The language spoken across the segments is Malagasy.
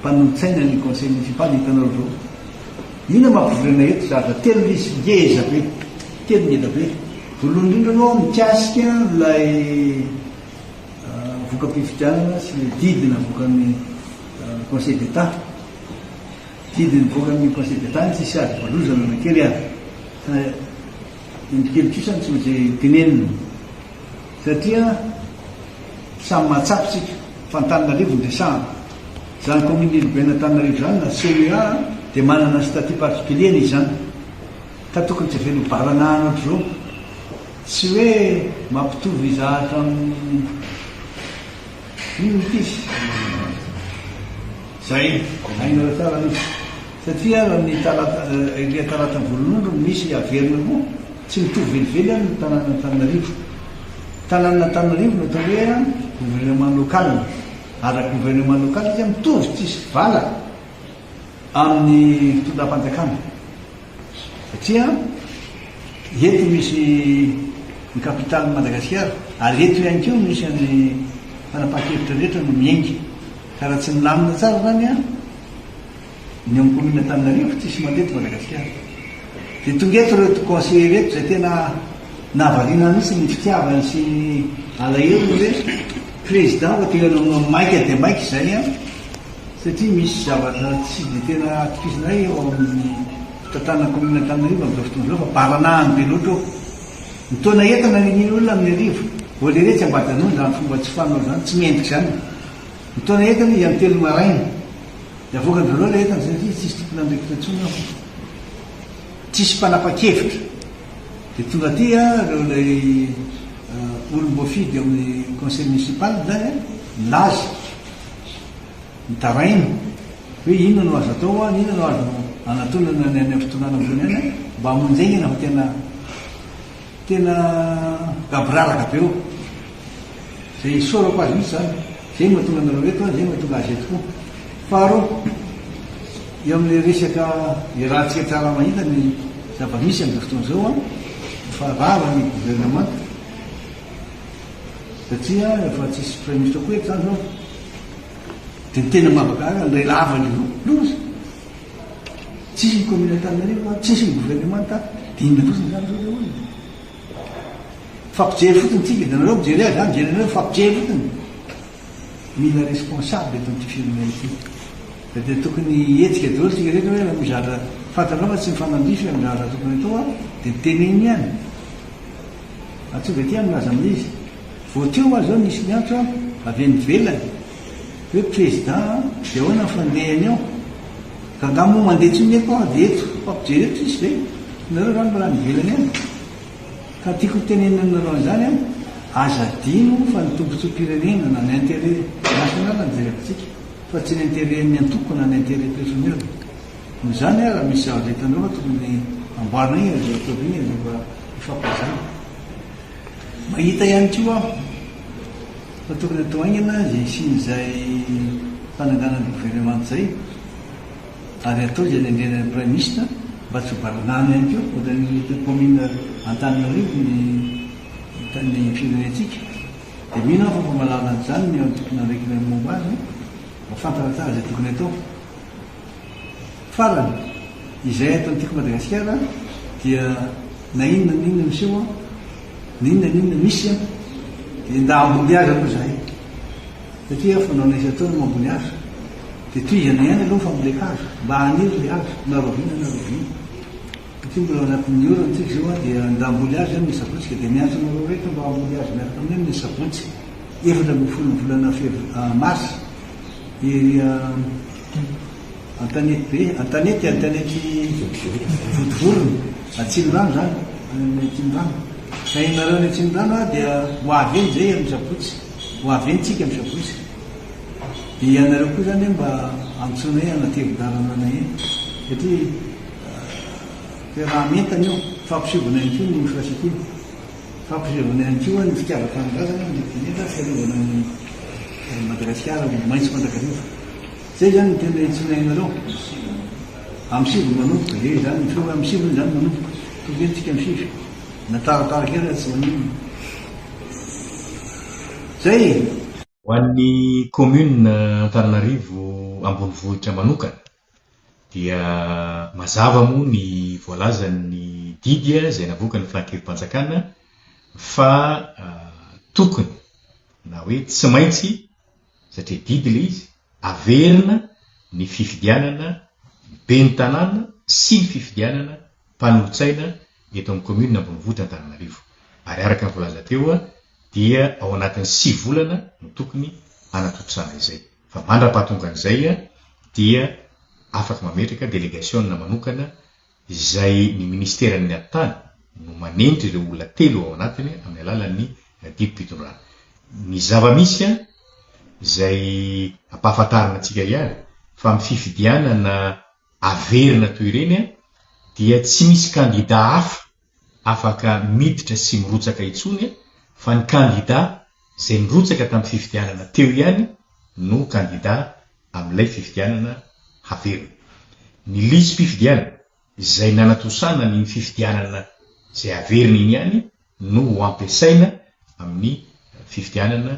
Mpanolotsaina ny conseil municipal hitanareo zao inona mampivory anay eto zahatra telo izy ngeza be telo ngeda be voalohany indrindra aloha mikasika ilay voka-pifidianana sy ilay didy navoakan'ny conseil d'état didy nivoakan'ny conseil d'état ny tsisy ady voalozana na kely ary Endrikely trisany tsy maintsy tenenina satria samy mahatsapa isika fa Antananarivo no resahana. Izany Commune Urbaine Antananarivo izany na CUA dia manana ny statut particulier-ny izy izany ka tokony tsy avela ho baranahana ohatr'izao. Tsy hoe mampitovy zahatra amin'ny inona ity izy izay. Aingana tsara aloha. Satria ary amin'ny talata ilay talata voalohan'andro no misy averina koa, tsy mitovy velively ary ny tanàn'Antananarivo. Tanàn'Antananarivo no atao hoe gouvernement local. Ary gouvernement local dia mitovy tsisy vala amin'ny fitondram-panjakana. Satria eto misy ny capitalin'i Madagasikara ary eto ihany koa misy an'ny fanapahan-kevitra rehetra no miainga. Ka raha tsy milamina tsara izany an! Ny amin'ny commune Antananarivo tsisy mandeha eto Madagasikara. Dia tonga eto ireto conseillers ireto izay tena nahavariana ahy mihitsy ny fitiavany sy ny alahelony hoe président vao tena namonoa maika dia maika izay an! satria misy zavatra tsy dia tena atokisana ahy eo amin'ny fitantanana commune Antananarivo amin'izao fotoana izao fa baranahany be loatra eo. Ny taona eto naniniana olona amin'ny arivo vao leretsy ambadanono izany fomba tsy fanao izany, tsy mendrika izany. Ny taona eto aloha ian'ny telo maraina. Dia avoakany voalohany ilay entana satria tsy hisy tompon'andraikitra intsony ao. Tsy hisy mpanapa-kevitra. Dia tonga aty ireo ilay eh, olom-boafidy ao amin'ny conseil municipal izany eh, milaza, mitaraina hoe inona no azo atao, ah, inona no azo anatonana ny any amin'ny fitondrana ambony any eh, mba hamonjy aingana fa tena Tena gaboraraka be ô! Zay isaorako azy mihitsy zany, zay no mahatonga anareo eto an, zay no mahatonga azy eto koa. Faharoa, eo amin'ilay resaka iarahantsika tsara mahita ny zava-misy amin'izao fotoana izao an, efa rava ny gouvernement satria efa tsisy praiminisitra koa eto zany zao, dia ny tena mahavakahaka, ny iray lavan'ny loza, Tsisy ny commune Antananarivo an, tsisy ny gouvernement an, dia inona loatra izany izao ilay olona? Mifampijery fotsiny tsika, dia nareo mijery ahy, za mijery anareo, mifampijery fotsiny. Mila responsable eto amin'ity firenena ity. Fa dia tokony hihetsika daholo isika rehetra hoe raha misy zavatra fantanao fa tsy mifanandrify amin'ny zavatra tokony atao an, dia teneno ihany. Antsoy Betty an milaza amin'ilay izy. Vao teo aho izao nisy niantso an, avy any ivelany. Hoe président an, dia ahoana ny fandehany ao? Ka angaha moa mandeha intsony ny eto ady eto? Fampijery eto tsisy ve? Nareo ra mbola any ivelany any? Ka tiako ho tenenina aminareo an'izany an, aza adino fa ny tombotsoam-pirenena na ny intérêt national no jereko tsika fa tsy ny intérêt ny antoko na ny intérêt personnel. Noho izany an, raha misy zavatra hitanareo fa tokony amboarina iny ry zareo iny dia mba hifampizara. Mahita ihany koa aho. Fa tokony atao haingana izay hisian'izay fananganana governemanta izay ary atao izay nendrena ny praiminisitra mba tsy ho baranahana ihany koa ohatran'ny eto kaominina Antananarivo ny ny firenentsika. Dia mino aho fa efa mahalala an'izany ny eo amin'ny tomponandraikitra momba azy, mahafantatra tsara izay tokony atao. Farany, izay eto antiako Madagasikara dia na inona na inona miseho, na inona na inona misy dia nda ambony azy aloha izahay satria fanaonay isan-taona no ambony azy dia tohizana ihany aloha ny fambolen-kazo mba haniry ilay hazo na rahoviana na rahoviana satria mbola ao anatin'ny orana isika izao an, dia nda hamboly azy amin'ny sabotsy ka dia miantso anareo rehetra mba hamboly azy miaraka aminay amin'ny sabotsy efatra ambin'ny folo ny volana fevr, marsa, ery a. Antanety be, Antanety, Antanety vodivorona, Atsimondrano izany, any amin'ny Atsimondrano. Ka ianareo any Atsimondrano aho dia ho avy eny izay amin'ny sabotsy, ho avy eny tsika amin'ny sabotsy. Dia ianareo koa izany hoe mba antsoina hoe anatevin-dalana anay eny, satria toeram-entana io, fampisovana ihany koa ny infrastructure. Fampisehoana ihany koa ny fitiavan-tanindrazana ny Dinika fiarovana ny an'i Madagasikara ho maitso mandrakariva. Izay izany no tena iantsoana ianareo. Amsivy no manomboka. Eo izany ny feo amsivy hoy izany manomboka. Tokony entintsika amsivy. Na taratara kely aza tsy maninona. Izay e! Ho an'ny Kaominina Antananarivo ambonivohitra manokana, Dia mazava moa ny voalazan'ny didy izay navoakan'ny Filankevi-panjakana fa tokony na hoe tsy maintsy, satria didy ilay izy, averina ny fifidianana ben'ny tanàna sy ny fifidianana mpanolotsaina eto amin'ny kaominina ambonivohitra Antananarivo. Ary araka ny voalaza teo dia ao anatin'ny sivy volana no tokony hanatontosana izay. Fa mandra-pahatongan'izay dia afaka mametraka delegasiona manokana izay ny Ministeran'ny Atitany no manendry ireo olona telo ao anatiny amin'ny alalan'ny didim-pitondrana. Ny zava-misy izay ampahafantarina antsika ihany fa amin'ny fifidianana averina toy ireny dia tsy misy kandida hafa afaka miditra sy mirotsaka intsony fa ny kandida izay nirotsaka tamin'ny fifidianana teo ihany no kandida amin'ilay fifidianana haverina. Ny lisi-pifidianana izay nanatosana ny fifidianana izay haverina iny ihany no ho ampiasaina amin'ny fifidianana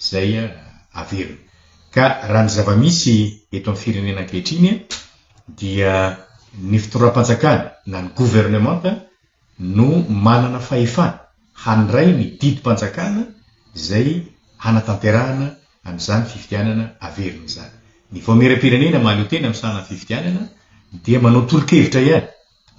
izay averina. Ka raha ny zava-misy eto amin'ny firenena ankehitriny dia ny fitondram-panjakana na ny governemanta no manana fahefana handray ny didim-panjakana izay hanatanterahana an'izany fifidianana averina izany. Ny vaomieram-pirenena mahaleo tena amin'ny sahanan'ny fifidianana dia manao tolo-kevitra ihany.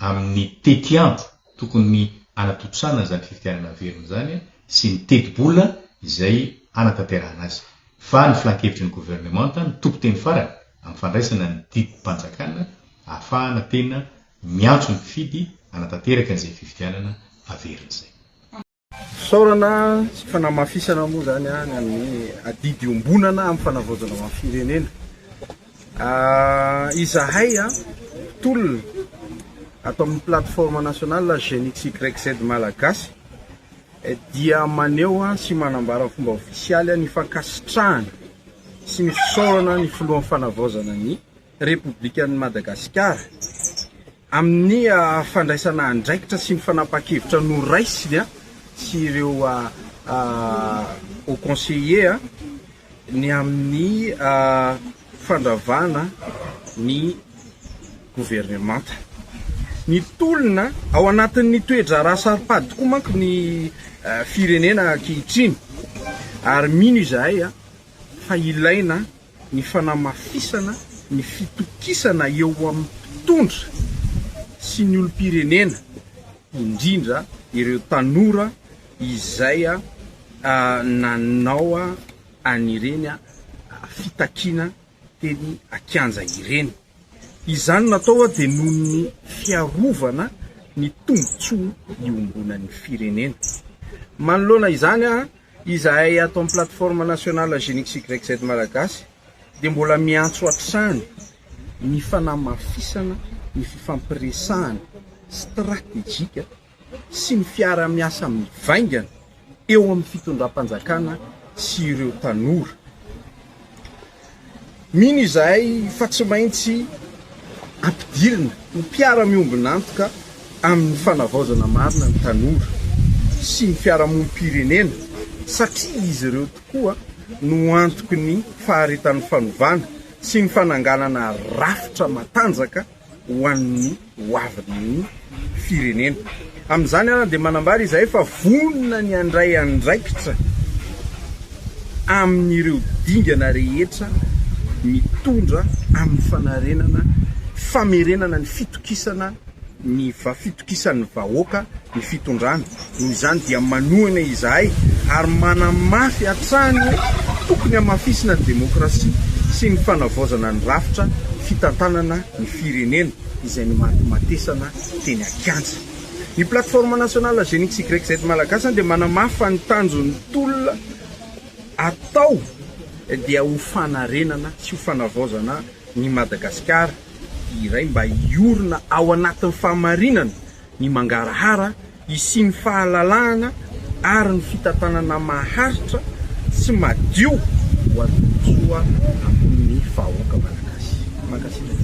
amin'ny tetiandro tokony hanatontosana izany fifidianana velona izany sy ny tetibola izay hanatanterahana azy, fa ny filankevitry ny governemanta no tompon-teny farany amin'ny fandraisana ny didim-panjakana ahafahana tena miantso ny mpifidy hanatanteraka izay fifidianana averina izay. Fisaorana sy fanamafisana moa izany ny amin'ny adidy iombonana amin'ny fanavaozana ho an'ny firenena. Izahay tolona ato amin'ny plateforme nationale Jeunes XYZ Malagasy dia maneho sy manambara amin'ny fomba ofisialy ny fankasitrahana sy ny fisaorana ny filohan'ny fanavaozana ny Repoblikan'i Madagasikara, amin'ny fandraisana andraikitra sy ny fanapahan-kevitra noraisiny sy ireo Hauts Conseillers ny amin'ny fandravana ny governemanta. Mitolona ao anatin'ny toe-draharaha saro-pady tokoa manko ny firenena ankehitriny ary mino izahay fa ilaina ny fanamafisana ny fitokisana eo amin'ny mpitondra sy ny olom-pirenena, indrindra ireo tanora izay nanao an'ireny fitakiana teny an-kianja ireny. Izany natao dia noho ny fiarovana ny tombontsoa iombonan'ny firenena. Manoloana izany, Izahay ato amin'ny Plateforme Nationale Genix YZ Malagasy dia mbola miantso hatrany ny fanamafisana ny fifampiresahana stratejika sy ny fiarahamiasa mivaingana eo amin'ny fitondram-panjakana sy ireo tanora. Mino izahay fa tsy maintsy ampidirina ho mpiara-miombon'antoka amin'ny fanavaozana marina ny tanora sy ny fiarahamonim-pirenena satria izy ireo tokoa no antoky ny faharetan'ny fanovana sy ny fananganana rafitra matanjaka ho an'ny hoavin'ny firenena. Amin'izany àry dia manambara izahay fa vonona ny handray andraikitra amin'ireo dingana rehetra mitondra amin'ny fanarenana, famerenana ny fitokisana, ny fitokisan'ny vahoaka, ny fitondrana. Noho izany dia manohana izahay ary manamafy hatrany hoe tokony hamafisina ny demokrasia sy ny fanavaozana ny rafitra fitantanana ny firenena izay nomatimatesana teny an-kianja. Ny Plateforme Nationale Génie XYZ Malagasy dia manamafy fa ny tanjon'ny tolona atao dia ho fanarenana sy ho fanavaozana ny Madagasikara iray mba hiorina ao anatin'ny fahamarinana ny mangarahara Hisian'ny fahalalahana ary ny fitantanana maharitra sy madio ho an'ny tombontsoa ambon'ny vahoaka Malagasy. Mankasitraka.